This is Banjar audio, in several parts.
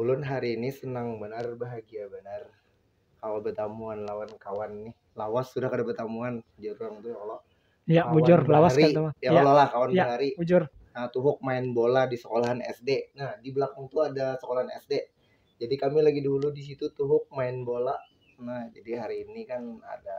Ulun hari ini senang banar bahagia banar kawa batamuan lawan kawan nih lawas sudah kada batamuan jar urang tu ya Allah ya kawan bujur lawas kan ya, ya Allah lah kawan ya, bahari bujur nah tuhuk main bola di sekolahan SD nah di belakang tu ada sekolahan SD jadi kami lagi dulu di situ tuhuk main bola nah jadi hari ini kan ada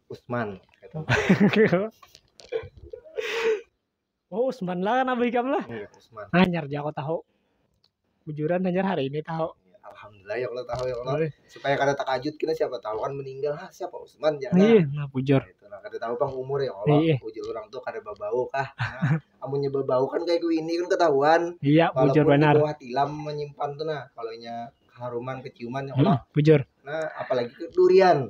Usman oh Usman lah kan abah ikam lah iya, Usman hanyar aja aku tahu bujuran hanyar hari ini tahu iya, Alhamdulillah ya Allah tahu ya Allah iya. supaya kada takajut kita siapa tahu kan meninggal ha siapa Usman jangan ya, iya nah bujur nah, itu nah kada tahu bang umur ya Allah iya. bujur orang tuh kada babau kah nah, amunnya babau kan kayak gue ini kan ketahuan iya bujur benar kalau tilam menyimpan tuh nah kalau nya haruman keciuman ya Allah hmm, bujur nah apalagi durian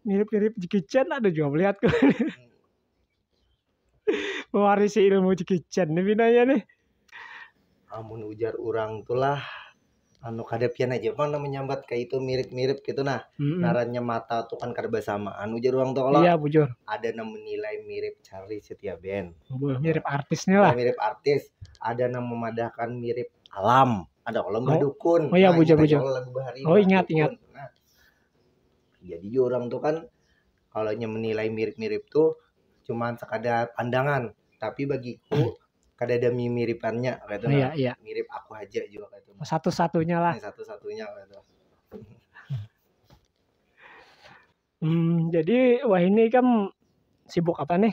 Mirip-mirip Jackie Chan ada juga melihat kau. Mewarisi ilmu Jackie Chan nih binanya nih. Amun ujar orang tulah anu kada pian aja mana menyambat kayak itu mirip-mirip gitu nah mm narannya mata tuh kan kada bersamaan ujar orang tuh kalau iya bujur ada yang menilai mirip Charlie Setia Ben mirip artisnya lah mirip artis ada yang memadahkan mirip alam ada kalau oh. dukun oh iya nah, bujur bujur oh ingat ingat nah, Jadi juga orang tuh kan kalau menilai mirip-mirip tuh cuman sekadar pandangan, tapi bagiku kada ada mimiripannya gitu iya, iya. mirip aku aja juga gitu satu satunya lah satu satunya gitu hmm, jadi wah ini kan sibuk apa nih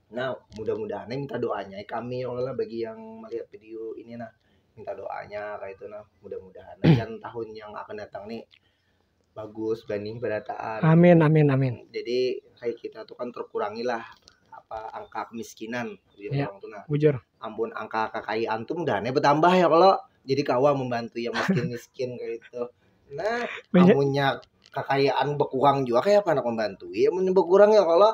Nah, mudah-mudahan nih minta doanya eh, kami ya Allah bagi yang melihat video ini nah minta doanya kayak itu nah mudah-mudahan dan tahun yang akan datang nih bagus benih berataan. Amin amin amin. Jadi kayak kita tuh kan terkurangi lah apa angka kemiskinan di ya, orang tuh nah. Bujur. Ampun angka kekayaan tuh mudah nih bertambah ya kalau jadi kawa membantu yang miskin miskin kayak itu. Nah, punya kekayaan berkurang juga kayak apa nak membantu ya berkurang ya kalau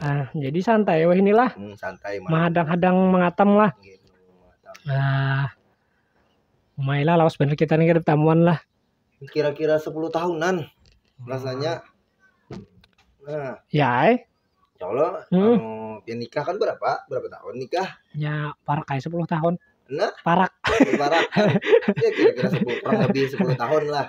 nah jadi santai wah inilah hmm, santai menghadang-hadang mengatam lah gitu, nah Mailah lawas bener kita nih kita tamuan lah kira-kira 10 tahunan rasanya nah ya eh Insya Allah hmm. anu, ya nikah kan berapa berapa tahun nikah ya parak kayak sepuluh tahun nah parak parak ya kira-kira sepuluh kurang lebih sepuluh tahun lah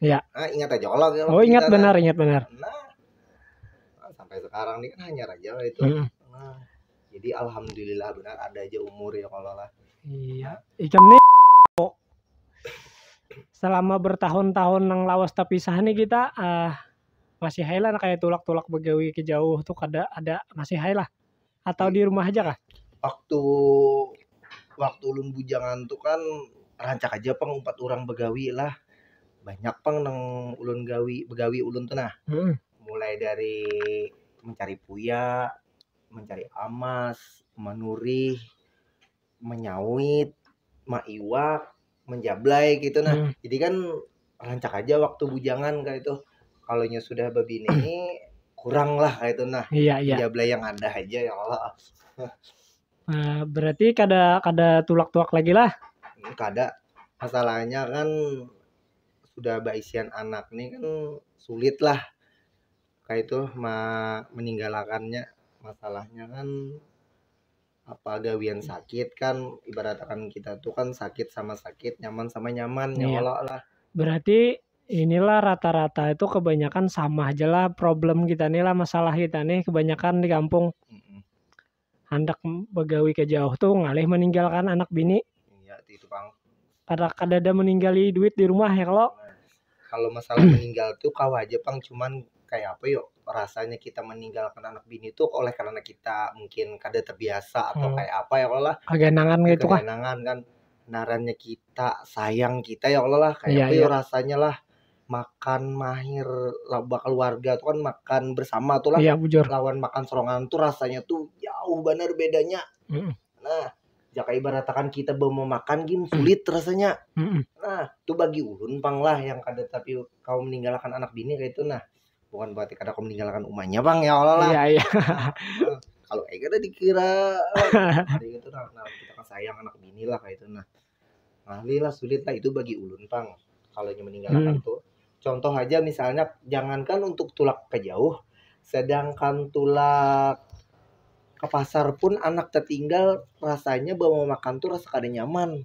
Iya. Nah, ingat aja kalau kalau Oh, ingat kita- benar, ingat benar. Nah, nah, sampai sekarang nih kan hanya aja lah itu. Mm. Nah, jadi alhamdulillah benar ada aja umur ya kalau lah. Iya. Ikam nih selama bertahun-tahun nang lawas terpisah nih kita ah, masih hai lah kayak tulak-tulak begawi ke jauh tuh kada ada masih hai lah. atau di rumah haja kah? Waktu waktu ulun bujangan tu kan rancak haja pang umpat urang bagawi lah banyak pang nang ulun gawi bagawi ulun tu nah mulai dari mancari puya, mancari amas, manurih. menyawit maiwak menjablai gitu nah hmm. jadi kan rancak aja waktu bujangan kayak itu kalau nya sudah babini ini kurang lah kayak itu nah iya, iya. jablay yang ada aja ya Allah nah, berarti kada kada tulak tuak lagi lah hmm, kada masalahnya kan sudah baisian anak nih kan sulit lah kayak itu ma meninggalkannya masalahnya kan apa gawian sakit kan ibarat akan kita tuh kan sakit sama sakit nyaman sama nyaman ya iya. Allah lah berarti inilah rata-rata itu kebanyakan sama aja lah problem kita nih lah masalah kita nih kebanyakan di kampung hendak begawi ke jauh tuh ngalih meninggalkan anak bini iya itu bang Kada kadada meninggali duit di rumah ya kalo. Kalo masalah meninggal tuh kawa haja pang cuman kaya apa yo rasanya kita meninggalkan anak bini tuh oleh karena kita mungkin kada terbiasa atau kaya apa ya kalo lah. Kaganangan kaya itu kah. Kaganangan kan ngarannya kita sayang kita ya kalo lah kaya Iya, apa yo iya. rasanya lah makan mahir lah bakaluarga tuh kan makan bersama tuh lah Iya bujur. lawan makan sorangan tuh rasanya tuh jauh banar bedanya. Mm-mm. Nah, ya kayak ibaratakan kita bawa memakan gin sulit rasanya Mm-mm. nah itu bagi ulun pang lah yang kada tapi kau meninggalkan anak bini kayak itu nah bukan berarti kada kau meninggalkan umanya pang ya Allah lah Iya iya. Nah, kalau kayak gitu dikira eh, hari itu nah, nah, kita kan sayang anak bini lah kayak itu nah Ngalih lah sulit lah itu bagi ulun pang kalau inya meninggal hmm. akan tuh. Contoh aja misalnya jangankan untuk tulak ke jauh, sedangkan tulak ke pasar pun anak tertinggal rasanya bawa makan tuh rasa kada nyaman.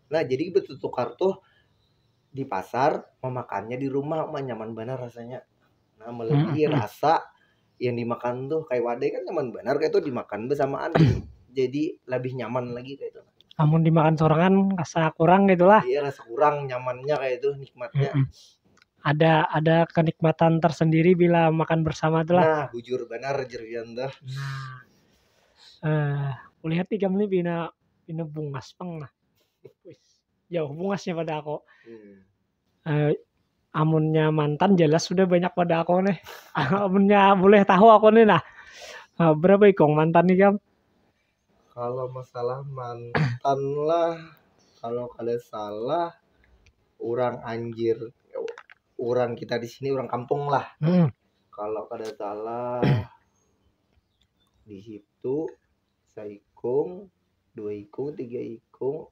Nah jadi bertukar tuh di pasar memakannya di rumah mah nyaman benar rasanya nah melebihi hmm. rasa yang dimakan tuh kayak wadai kan nyaman benar kayak itu dimakan bersamaan jadi lebih nyaman lagi kayak itu namun dimakan sorangan rasa kurang gitulah iya rasa kurang nyamannya kayak itu nikmatnya hmm. ada ada kenikmatan tersendiri bila makan bersama tuh lah nah bujur benar jerian tuh nah eh uh, lihat tiga menit bina bina bungas peng lah jauh bungasnya pada aku hmm. uh, amunnya mantan jelas sudah banyak pada aku nih amunnya boleh tahu aku nih nah uh, berapa ikong mantan nih kamu kalau masalah mantan lah kalau kada salah orang anjir orang kita di sini orang kampung lah hmm. kalau kada salah di situ seikung dua ikung tiga ikung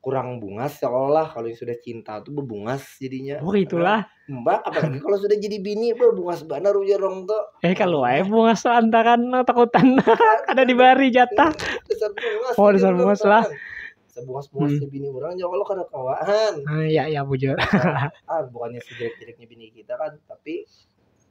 kurang bungas seolah kalau yang sudah cinta tuh bebungas jadinya. Oh itulah. Mbak, apalagi kalau sudah jadi bini, bebungas benar ujar orang tuh. Eh kalau aja bungas lantaran takutan ada di bari jatah. Dasar bungas. Oh, dasar gitu, bungas lah. Sebungas bungas hmm. bini orang ya Allah kada kawaan. Ah, iya iya bujur. ah, bukannya sejelek-jeleknya bini kita kan, tapi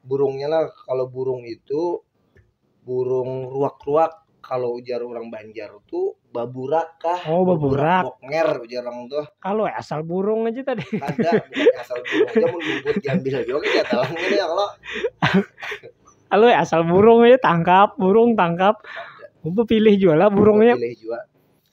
burungnya lah kalau burung itu burung ruak-ruak kalau ujar orang Banjar tuh baburak kah Oh, baburak. boknger ujar orang tuh Kalau asal burung aja tadi. kada bukan asal burung aja mun bubut diambil aja oke ya talang ini ya kalau Kalau asal burung aja tangkap, burung tangkap. Bepilih jua lah burungnya. pilih jua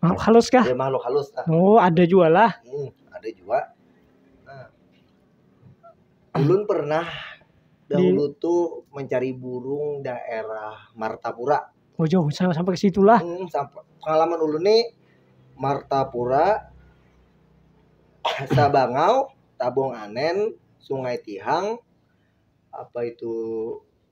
makhluk halus kah ya makhluk halus nah. oh ada juga lah hmm, ada juga nah. ulun pernah dahulu di... tuh mencari burung daerah Martapura oh jauh sampai ke situ lah hmm, sampai pengalaman ulun nih Martapura Sabangau Tabung Anen Sungai Tihang apa itu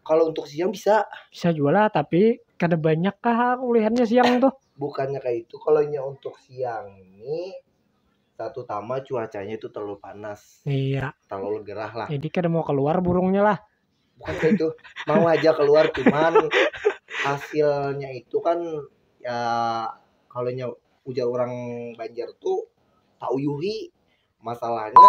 Kalau untuk siang bisa. Bisa jua lah, tapi kada banyak kah kulihannya siang tuh? Bukannya kayak itu, kalau nya untuk siang ini satu tama cuacanya itu terlalu panas. Iya. Terlalu gerah lah. Jadi kada mau keluar burungnya lah. Bukan kayak itu, mau aja keluar cuman hasilnya itu kan ya kalau nya ujar orang Banjar tuh tauyuhi masalahnya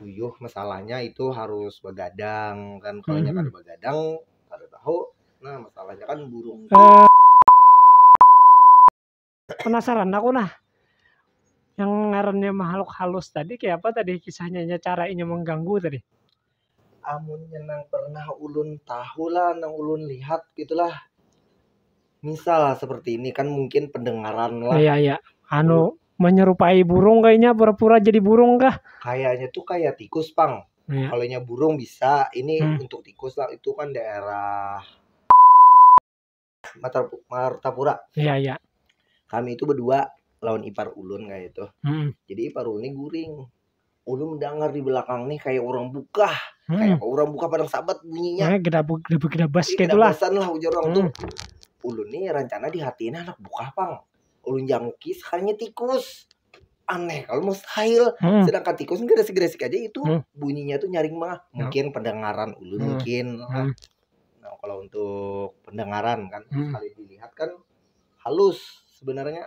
uyuh masalahnya itu harus begadang kan kalau mm -hmm. begadang kada tahu nah masalahnya kan burung uh, penasaran aku nah yang ngarannya makhluk halus tadi kayak apa tadi kisahnya cara ini mengganggu tadi amunnya nang pernah ulun tahu lah nang ulun lihat gitu lah misal lah seperti ini kan mungkin pendengaran lah Iya ya. Anu menyerupai burung kayaknya pura-pura jadi burung kah? kayaknya tuh kayak tikus pang Iya. kalau nya burung bisa ini Hmm. untuk tikus lah itu kan daerah Matar Martapura. Iya, iya. Kami itu berdua lawan ipar ulun kayak itu. Hmm. Jadi ipar ulun ini guring. Ulun mendengar di belakang nih kayak orang buka, hmm. kayak orang buka padang sabat bunyinya. Nah, kita kita kita bas gitu lah. lah ujar orang hmm. tuh. Ulun nih rencana di hati ini anak buka pang. Ulun jangki sekarangnya tikus. aneh kalau mustahil hmm. sedangkan tikus ini gresik gresik aja itu hmm. bunyinya tuh nyaring mah ya. mungkin hmm. pendengaran ulu hmm. mungkin hmm. nah kalau untuk pendengaran kan hmm. sekali dilihat kan halus sebenarnya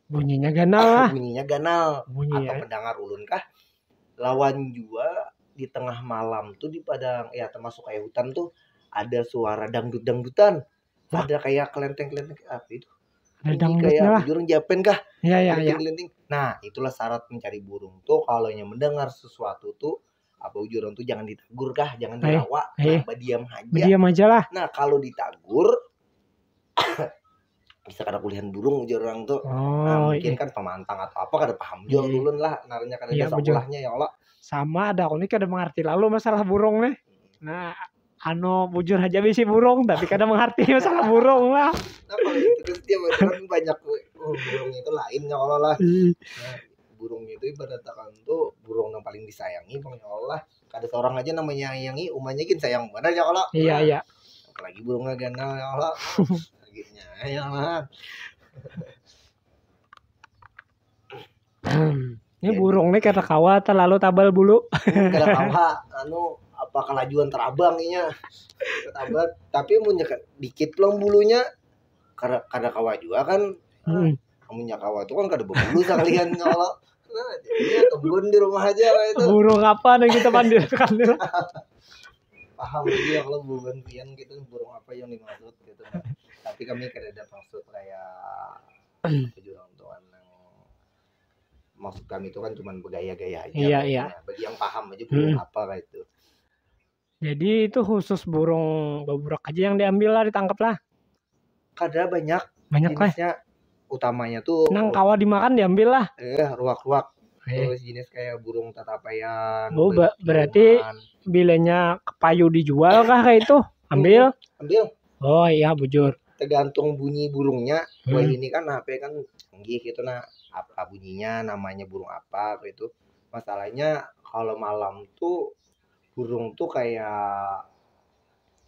bunyinya ganal lah bunyinya ganal Bunyi, atau ya. pendengar ulun kah lawan jua di tengah malam tuh di padang ya termasuk kayak hutan tuh ada suara dangdut dangdutan ada kayak kelenteng-kelenteng apa itu ada danggutnya lah burung japen kah ya ya ya kelinting nah itulah syarat mencari burung tuh kalau yang mendengar sesuatu tuh apa ujuran tuh jangan ditegur kah jangan eh, dirawa eh, nah, diam aja diam aja lah nah kalau ditagur bisa kada kulihan burung ujar orang tuh nah, oh, nah, mungkin iya. kan pemantang atau apa kada paham jual iya. ulun lah narnya kada iya, bisa ulahnya ya Allah sama ada aku ini kada mengerti lalu masalah burung nih nah Ano bujur aja bisi burung tapi kada mengharti masalah burung lah. Terus dia kan banyak oh, burung itu lain ya Allah lah. Hmm. Nah, burung itu ibaratkan tuh burung yang paling disayangi bang ya Allah. Kada seorang aja namanya menyayangi umanya gin sayang benar ya Allah. Iya nah, iya. Apalagi burungnya ganal ya Allah. Akhirnya ya Allah. Ini burung nih kada kawa terlalu tabal bulu. kada kawa anu apa kelajuan terabang inya tabal tapi munnya dikit pulang bulunya kada kada kawa jua kan hmm. amunnya kawa tuh kan kada berbulu sekalian kalau nah jadinya kebun di rumah aja itu burung apa yang kita pandirkan paham ya kalau burung pian gitu burung apa yang dimaksud gitu tapi kami kada ada maksud kayak jurang tuh kan yang maksud kami itu kan cuma bergaya-gaya aja Iya, kan. iya. Nah, bagi yang paham aja burung Hmm. apa kayak itu Jadi itu khusus burung baburak aja yang diambil lah, ditangkap lah. kada banyak Banyak lah. jenisnya utamanya tuh Nang kawa dimakan diambil lah. eh ruak-ruak Eh, terus jenis kayak burung tatapaian Oh, burung ba- berarti- ciuman. bilanya kepayu dijual kah kayak itu? Ambil. ambil oh iya bujur tergantung bunyi burungnya hmm. wah ini kan HP kan canggih gitu nah apa bunyinya namanya burung apa gitu masalahnya kalau malam tuh burung tuh kayak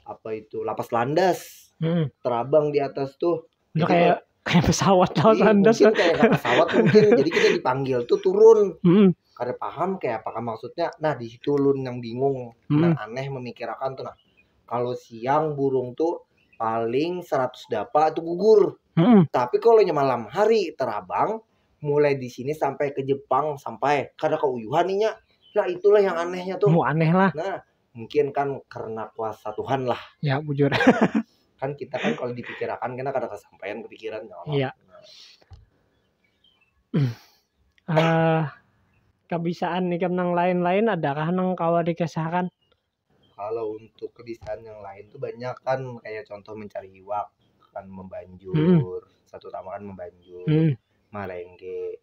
apa itu lapas landas hmm. terabang di atas tuh Udah kayak kayak pesawat lah Iya, landas. mungkin kayak nggak pesawat mungkin jadi kita dipanggil tuh turun Mm-mm. kada paham kayak apakah maksudnya nah di situ lun yang bingung Mm. yang aneh memikirakan tuh nah kalau siang burung tuh paling 100 dapa itu gugur Mm-mm. tapi kalau nya malam hari terabang mulai di sini sampai ke Jepang sampai kada keuyuhan inya nah itulah yang anehnya tuh Mu aneh lah. nah mungkin kan karena kuasa Tuhan lah ya bujur kan kita kan kalau dipikirakan kita kada kesampaian kepikiran ya Allah ya. uh, kebisaan nih nang lain-lain adakah nang kawa dikisahkan kalau untuk kebisaan yang lain tuh banyak kan kayak contoh mencari iwak kan membanjur hmm. satu tamaan membanjur hmm. marengge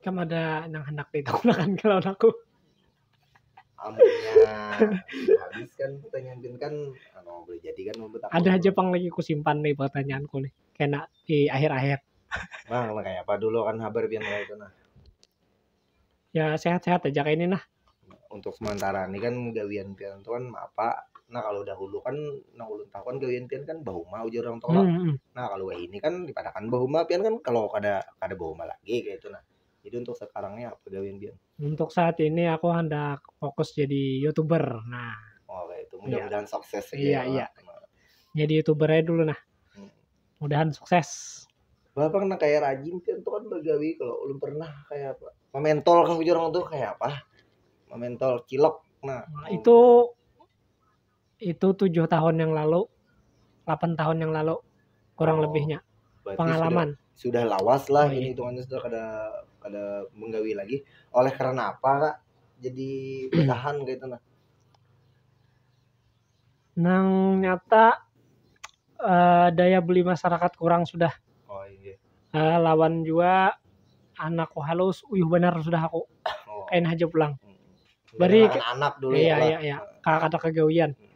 Kam ada nang handak ditunakan ka lawan aku? Amunnya habis kan pertanyaan kan anu boleh jadi kan membuat aku. Ada haja pang lagi kusimpan nih pertanyaanku nih. kena di akhir-akhir. Bang, nah kayak apa dulu kan habar biar itu nah. Ya sehat-sehat aja kayak ini nah. Untuk sementara ini kan gawian pian tuh kan apa? Nah kalau dahulu kan nah ulun tahu kan gawian pian kan bahuma ujar orang tua. Hmm, hmm. Nah kalau ini kan dipadakan bahuma pian kan kalau kada kada bahuma lagi kayak itu nah. Jadi untuk sekarangnya apa gawian pian? Untuk saat ini aku hendak fokus jadi youtuber. Nah. Oh kayak itu mudah-mudahan ya. sukses. Iya iya. Nah. Jadi youtuber aja dulu nah. mudahan sukses Bapak pernah kayak rajin kan tuh kan begawi kalau belum pernah kayak apa mementol kah ujur orang tuh kayak apa mementol cilok nah Nah, itu itu tujuh tahun yang lalu, 8 tahun yang lalu kurang Oh, lebihnya berarti pengalaman. sudah, sudah lawas lah Oh, iya. ini hitungannya sudah kada kada menggawi lagi oleh karena apa kak jadi bertahan gitu nah Nang nyata uh, daya beli masyarakat kurang sudah. Oh iya. Uh, lawan jua anakku halus, uyuh benar sudah aku. Oh. Kain haja pulang. Hmm. Beri anak, anak dulu iya, ya. Iya iya iya. Kakak kata kegawian. Hmm.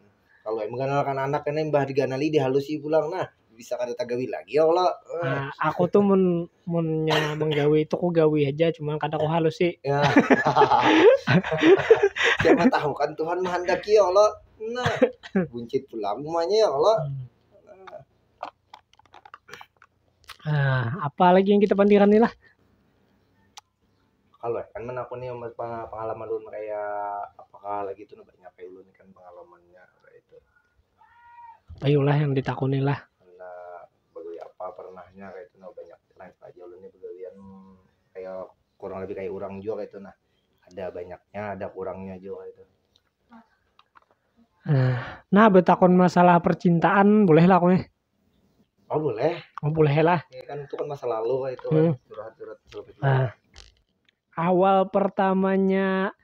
Kalau emang kan anak ini mbah diganali dihalusi pulang nah. bisa kada tagawi lagi ya Allah. Nah, aku tuh mun munnya menggawi itu ku gawi aja cuman kada ku halus sih. Ya. Siapa tahu kan Tuhan menghendaki ya Allah. Nah, buncit pula semuanya ya Allah. Nah, apa lagi yang kita pandiran nih lah? Kalu ai kan manakuni pangalaman ulun kaya apa kah lagi tu nah banyak ai ulun ikan pangalamannya kaya itu. Ayolah yang ditakuni lah. Handak bagawi apa pernahnya kaya itu nah banyak live aja ulun nih bagawian kaya kurang lebih kaya urang jua kaya itu nah ada banyaknya ada kurangnya jua kaya itu. Nah, betakun masalah percintaan boleh lah aku nih. Oh boleh. Oh boleh lah. Ya kan itu kan masa lalu kan itu hmm. curhat-curhat lebih nah, Awal pertamanya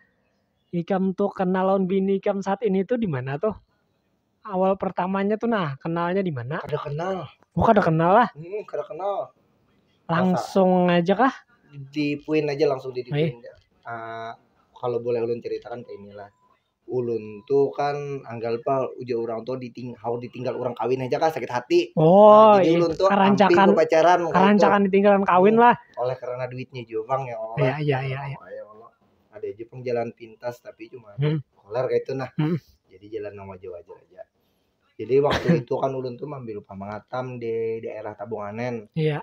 ikam tuh kenal lawan bini ikam saat ini tuh di mana tuh? Awal pertamanya tuh nah kenalnya di mana? Kada kenal. Oh kada kenal lah. Hmm, kada kenal. Langsung Masa, aja kah? Di puin aja langsung di, di eh. Uh, kalau boleh ulun ceritakan ke inilah ulun tuh kan anggal pa ujar orang tuh diting haur ditinggal orang kawin aja kan sakit hati. Oh, Jadi iya. ulun tuh hampir karancakan, ku pacaran waktu itu. karancakan ditinggalan kawin lah. oleh karena duitnya juga bang ya Allah. Iya, iya, iya, iya. Ya Allah. Ada aja pang jalan pintas tapi cuma Hmm. koler kayak itu nah. Hmm. Jadi jalan yang wajar-wajar aja. Jadi waktu itu kan ulun tuh mambil pamangatan di daerah Tabunganen. Iya.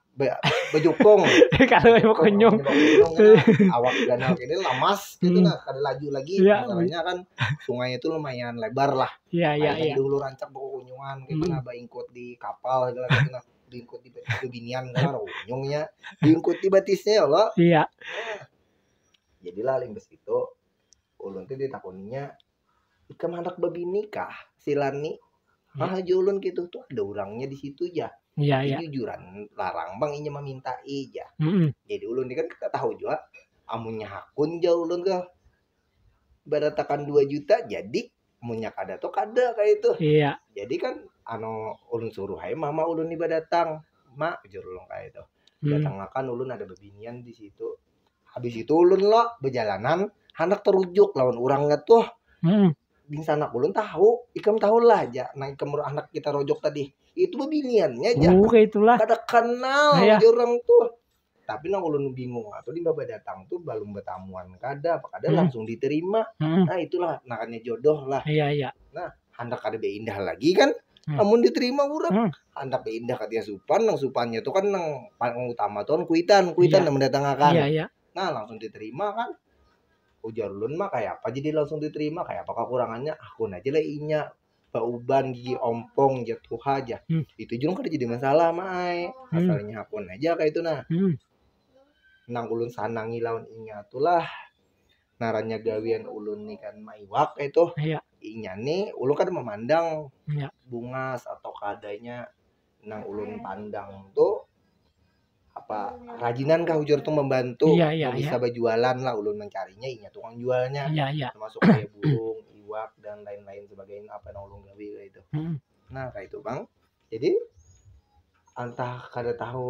be- bejukung kalau emang kunyung Gunung kan, awak danau ini lamas gitu Hmm. nah kada laju lagi Iya. masalahnya kan sungai itu lumayan lebar lah iya iya Akhirnya iya dulu rancak bekunyungan gitu Mm. nah baingkut di kapal gitu lah, gitu nah diingkut di batis bebinian gitu lah kunyungnya diingkut di batisnya ya Allah iya jadilah limbas itu ulun tuh ditakuninya ikam handak babini kah silan ni hmm. ah aja ulun gitu tuh ada orangnya di situ ya Iya, iya. Jujuran larang bang inya meminta ija. Mm -hmm. Jadi ulun ini kan kita tahu juga amunnya hakun jauh ulun ke beratakan 2 juta jadi munyak ada tuh kada kayak itu iya jadi kan anu ulun suruh hai mama ulun nih datang mak jurulung kayak itu hmm. datang akan ulun ada bebinian di situ habis itu ulun lo bejalanan handak terujuk lawan orangnya tuh hmm. di sana ulun tahu ikam tahu lah aja nah ikam anak kita rojok tadi itu bebiniannya aja oh, itulah kada kenal nah, ya. orang tuh tapi nang ulun bingung atau di baba datang tuh belum bertamuan kada apa kada hmm. langsung diterima hmm. nah itulah nakanya jodoh lah iya iya nah handak kada beindah lagi kan hmm. namun diterima urang hmm. handak beindah katanya supan nang supannya tuh kan nang paling utama tuh kan kuitan kuitan yeah. yang mendatangkan yeah, yeah. nah langsung diterima kan ujar ulun mah kayak apa jadi langsung diterima kayak apa kekurangannya aku aja lah inya bauban gigi ompong jatuh aja hmm. itu juga kan jadi masalah mai hmm. asalnya aku aja kayak itu nah hmm. nang ulun sanangi lawan inya tuh lah ngarannya gawian ulun nih kan maiwak itu iya inya nih ulun kada memandang iya. bungas atau keadanya nang ulun pandang tuh apa rajinan kah ujar tuh membantu iya, iya, bisa iya. berjualan lah ulun mencarinya inya tukang jualnya iya, iya. termasuk kayak burung iwak dan lain-lain sebagainya apa yang ulun gawi itu hmm. nah kayak itu bang jadi entah kada tahu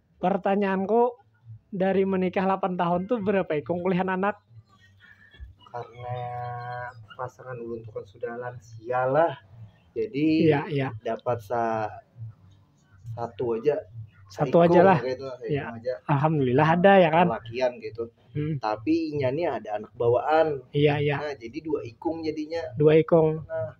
Pertanyaanku dari menikah lapan tahun tu berapa ikung kulihan anak? Karena pasangan ulun tu kan sudah lansia lah jadi ya, ya. dapat sa satu aja satu aja lah gitu, ya. aja. alhamdulillah ada ya kan lakian gitu hmm. tapi inya nih ada anak bawaan iya iya nah, jadi dua ikung jadinya dua ikung nah.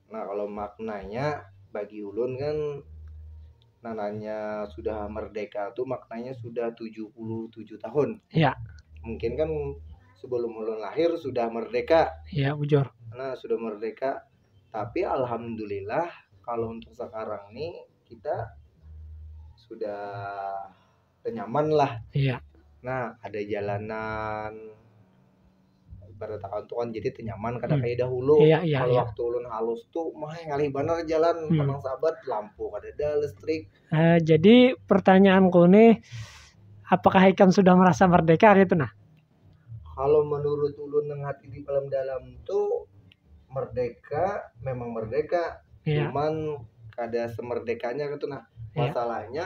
Nah kalau maknanya bagi ulun kan nananya sudah merdeka tuh maknanya sudah 77 tahun. Ya. Mungkin kan sebelum ulun lahir sudah merdeka. Ya, bujur. Nah, sudah merdeka. Tapi alhamdulillah kalau untuk sekarang nih kita sudah nyaman lah iya nah ada jalanan ibarat kata tuh kan jadi tenyaman kada hmm. kayak dahulu iya, iya, kalau iya. waktu ulun halus tuh mah ngalih bener jalan hmm. tenang sahabat lampu kada ada listrik uh, jadi pertanyaanku nih apakah ikan sudah merasa merdeka gitu nah kalau menurut ulun yang hati di dalam dalam tuh merdeka memang merdeka iya. cuman kada semerdekanya gitu nah iya. masalahnya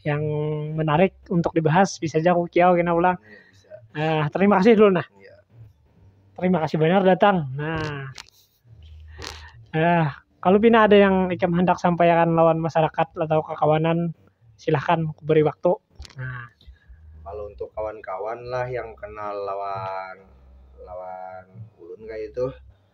yang menarik untuk dibahas bisa aja aku kiau kena ulang nah terima kasih dulu nah iya. terima kasih banyak datang nah eh kalau pina ada yang ikam hendak sampaikan lawan masyarakat atau kekawanan silahkan aku beri waktu nah kalau untuk kawan-kawan lah yang kenal lawan lawan ulun kayak itu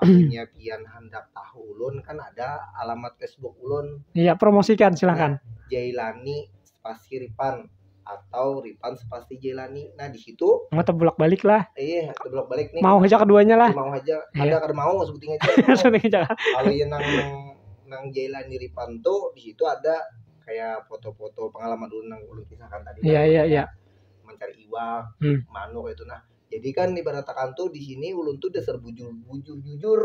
Amunnya pian handak tahu ulun kan ada alamat Facebook ulun. Iya, promosikan silakan. Nah, Jailani spasi Ripan atau Ripan spasi Jailani. Nah, di situ mau tebulak balik lah. Iya, tebulak balik nih. Mau aja keduanya lah. Mau aja. Iya. Ada kada mau sebuting aja. Sebuting aja. Kalau yang nang nang Jailani Ripan tuh di situ ada kayak foto-foto pengalaman ulun nang ulun kisahkan tadi. Iya, iya, iya. Mencari iwak, hmm. manuk itu nah jadi kan ibaratakan tuh di sini ulun tuh dasar bujur bujur jujur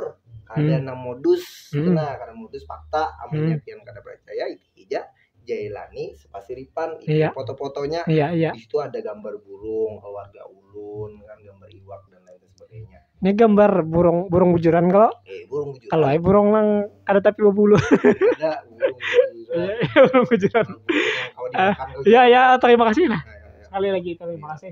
kada hmm. nang modus hmm. nah karena modus fakta amunnya hmm. pian kada percaya itu aja Jailani sepasiripan itu iya. foto-fotonya iya, iya. di situ ada gambar burung keluarga ulun kan gambar iwak dan lain sebagainya ini gambar burung burung bujuran kalau eh, burung bujuran kalau eh, burung nang ada tapi bulu ada burung bujuran iya, burung bujuran ah, iya iya terima kasih nah, nah iya, iya. sekali lagi terima kasih